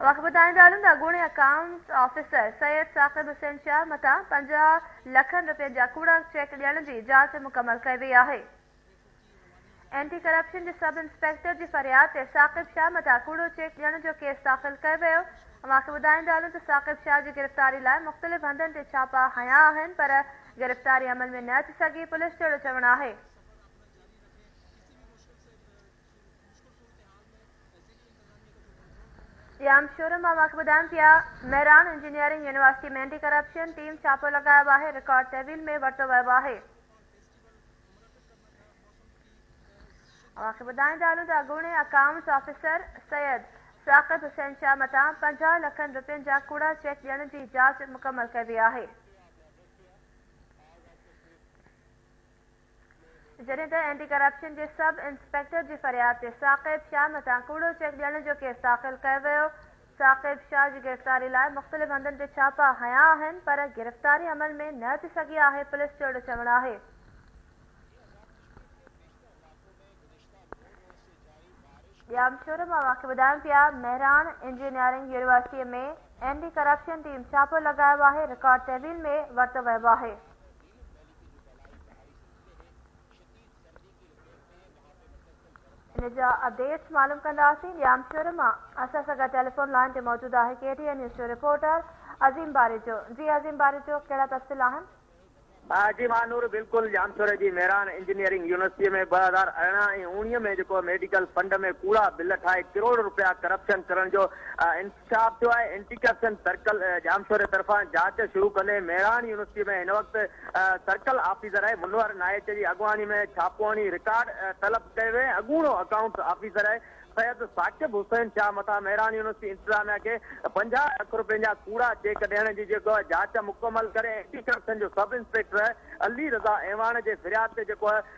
اوهان کي ٻڌائڻ چاهيو ته اڳوڻي اڪائونٽس آفيسر سيد ثاقب حسين شاهه مٿان پنجاهه لکن رپين جا ڪوڙا چيڪ ڏيڻ جي جاچ مڪمل ڪئي وئي آهي. اينٽي ڪرپشن جي سب انسپيڪٽر جي فرياد تي ثاقب شاهه مٿان ڪوڙو چيڪ ڏيڻ جو ڪيس داخل ڪيو ويو. اوهان کي ٻڌائڻ چاهيو ته ثاقب شاهه جي گرفتاري لاء مختلف هنڌن تي ڇاپا هنيا آهن پر گرفتاري عمل ۾ نه اچي سگهي پوليس جهڙو چوڻ آهي. ڄام شوري مان اوهانکي ٻڌايم ٿي آ Mehran engineering university ۾ anti corruption team ڇاپو لڳايو آهي رڪارڊ تحويل ۾ ورتو ويو آهي. اوهانکي ٻڌائيندا هلون ته اڳوڻي اڪائونٽس آفيسر سيد ثاقب حسين شاهه مٿان پنجاهه لکن روپين جا ڪوڙا چيڪ ڏيڻ جي جاچ مڪمل ڪئي وئي آهي. جڏهن ته اينٽي ڪرپشن جي سب انسپيڪٽر جي فرياد تي ثاقب شاهه مٿان ڪوڙو چيڪ ڏيڻ جو ڪيس داخل ڪيو ويو، ثاقب شاهه جي گرفتاري لاء مختلف هنڌن تي ڇاپا هنيا آهن پر گرفتاري عمل ۾ نه اچي سگهي آهي، پوليس جو اهڙو چوڻ آهي. ڄام شوري مان اوهان کي ٻڌايون پيا Mehran engineering university ۾ anti corruption team ڇاپو لڳايو آهي رڪارڊ تحويل ۾ ورتو ويو آهي. ان جا اپڊيٽس معلوم ڪنداسين ڄام شوري مان اسان سان گڏ ٽيليفون لائين تي موجود آهي ڪي ٽي اين نيوز جو رپورٽر عظيم باريجو جي عظيم باريجو ڪهڙا تفصيل آهن. جي مهانور بلڪل ڄام شوري جي ميران انجنيئرنگ يونيورسٽي ۾ ٻه هزار ارڙهن ۽ اوڻيهه ۾ جيڪو ميڊيڪل فنڊ ۾ ڪوڙا بل ٺاهي ڪروڙ روپيا ڪرپشن ڪرڻ جو انڪشاف ٿيو آهي، اينٽي ڪرپشن سرڪل ڄامشوري طرفان جاچ شروع ڪندي مهراڻ يونيورسٽي ۾ هن وقت سرڪل آفيسر آهي منور نائچ جي اڳواڻي ۾ ڇاپو هڻي رڪارڊ طلب ڪيو ويو ۽ اڳوڻو اڪائونٽس آفيسر آهي سيد ثاقب حسين شاهه مٿان مهراڻ يونيورسٽي انتظاميا کي پنجاهه لک رپين جا ڪوڙا چيڪ ڏيڻ جي جيڪو جاچ مڪمل ڪري اينٽي ڪرپشن جو سب انسپيڪٽر علي رضا اعواڻ جي فرياد تي جيڪو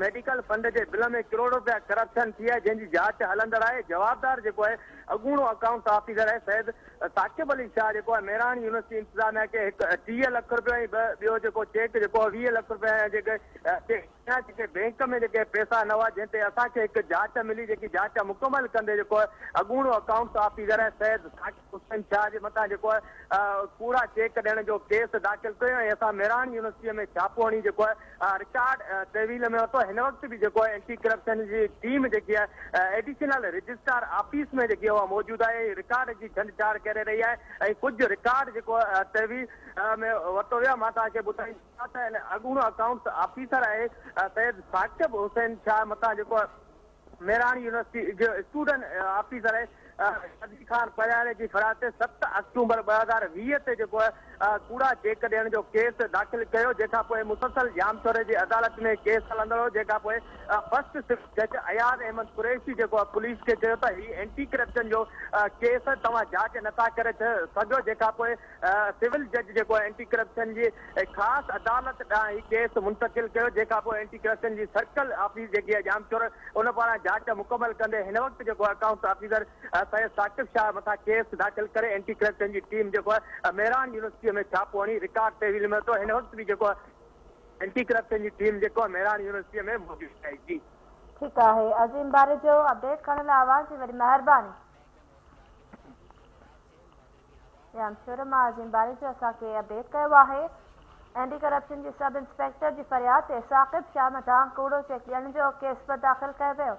ميڊيڪل فنڊ جي بل ۾ ڪروڙ رپيا ڪرپشن ٿي آهي جنهن جي جاچ هلندڙ آهي جوابدار جيڪو آهي اڳوڻو اڪائونٽس آفيسر آهي سيد ثاقب علي شاهه جيڪو آهي مهراڻ يونيورسٽي انتظاميا کي هڪ ٽيهه لک رپيو ۽ ٻه ٻيو جيڪو چيڪ جيڪو آهي ويهه لک رپيا ۽ جيڪي ڪيا جيڪي بينڪ ۾ جيڪي پيسا نه هئا جنهن تي اسان کي هڪ جاچ ملي جيڪي جاچ مڪمل ڪندي جيڪو آهي اڳوڻو اڪائونٽس آفيسر آهي سيد ثاقب حسين شاهه جي مٿان جيڪو آهي ڪوڙا چيڪ ڏيڻ جو ڪيس داخل ڪيو ۽ اسان مهراڻ يونيورسٽيء ۾ ڇاپو هڻي جيڪو آهي رڪارڊ تحويل ۾ ورتو هن وقت به جيڪو آهي اينٽي ڪرپشن جي ٽيم جيڪي آهي ايڊيشنل رجسٽرار آفيس ۾ جيڪي اها موجود آهي ۽ رڪارڊ جي ڇنڊ ڇاڙ ڪري رهي آهي ۽ ڪجهه رڪارڊ جيڪو تحويل ۾ ورتو ويو آهي مان توهان کي ٻڌائين ٿا ته اڳوڻو اڪائونٽس آفيسر آهي سيد ثاقب حسين شاهه مٿان جيڪو ميراڻي يونيورسٽي جي اسٽوڊنٽ آفيسر قدير خان پرياري جي ڦرات تي ست آڪٽومبر ٻه هزار ويهه تي جيڪو ڪوڙا چيڪ ڏيڻ جو ڪيس داخل ڪيو جنهن کان پوء مسلسل ڄامشوري جي عدالت ۾ ڪيس هلندڙ هو جنهن کان پوء فرسٽ سول جج اياز احمد قريشي جيڪو پوليس کي چيو ته هي اينٽي ڪرپشن جو ڪيس توهان جاچ نٿا ڪري سگهيو جنهن کان پوء سول جج جيڪو اينٽي ڪرپشن جي خاص عدالت ڏانهن هي ڪيس منتقل ڪيو جنهن کانپوء اينٽي ڪرپشن جي سرڪل آفيس جيڪي آهي ڄامشورو ان پاران جاچ مڪمل ڪندي هن وقت جيڪو آهي اڪائونٽس آفيسر سيد ثاقب شاهه مٿان ڪيس داخل ڪري اينٽي ڪرپشن جي ٽيم جيڪو آهي ميران يونيورسٽي ۾ ڇاپو هڻي رڪارڊ تحويل ۾ ورتو هن وقت به جيڪو آهي اينٽي ڪرپشن جي ٽيم جيڪو آهي ميران يونيورسٽي ۾ موجود آهي جي. ٺيڪ آهي عظيم باريجو اپڊيٽ ڪرڻ لاء اوهان جي وڏي مهرباني. ايم شورما جن باري جو اسان کي اپڊيٽ ڪيو آهي. اينٽي ڪرپشن جي سب انسپيڪٽر جي فرياد تي ثاقب شاهه مٿان ڪوڙو چيڪ ڏيڻ جو ڪيس به داخل ڪيو ويو.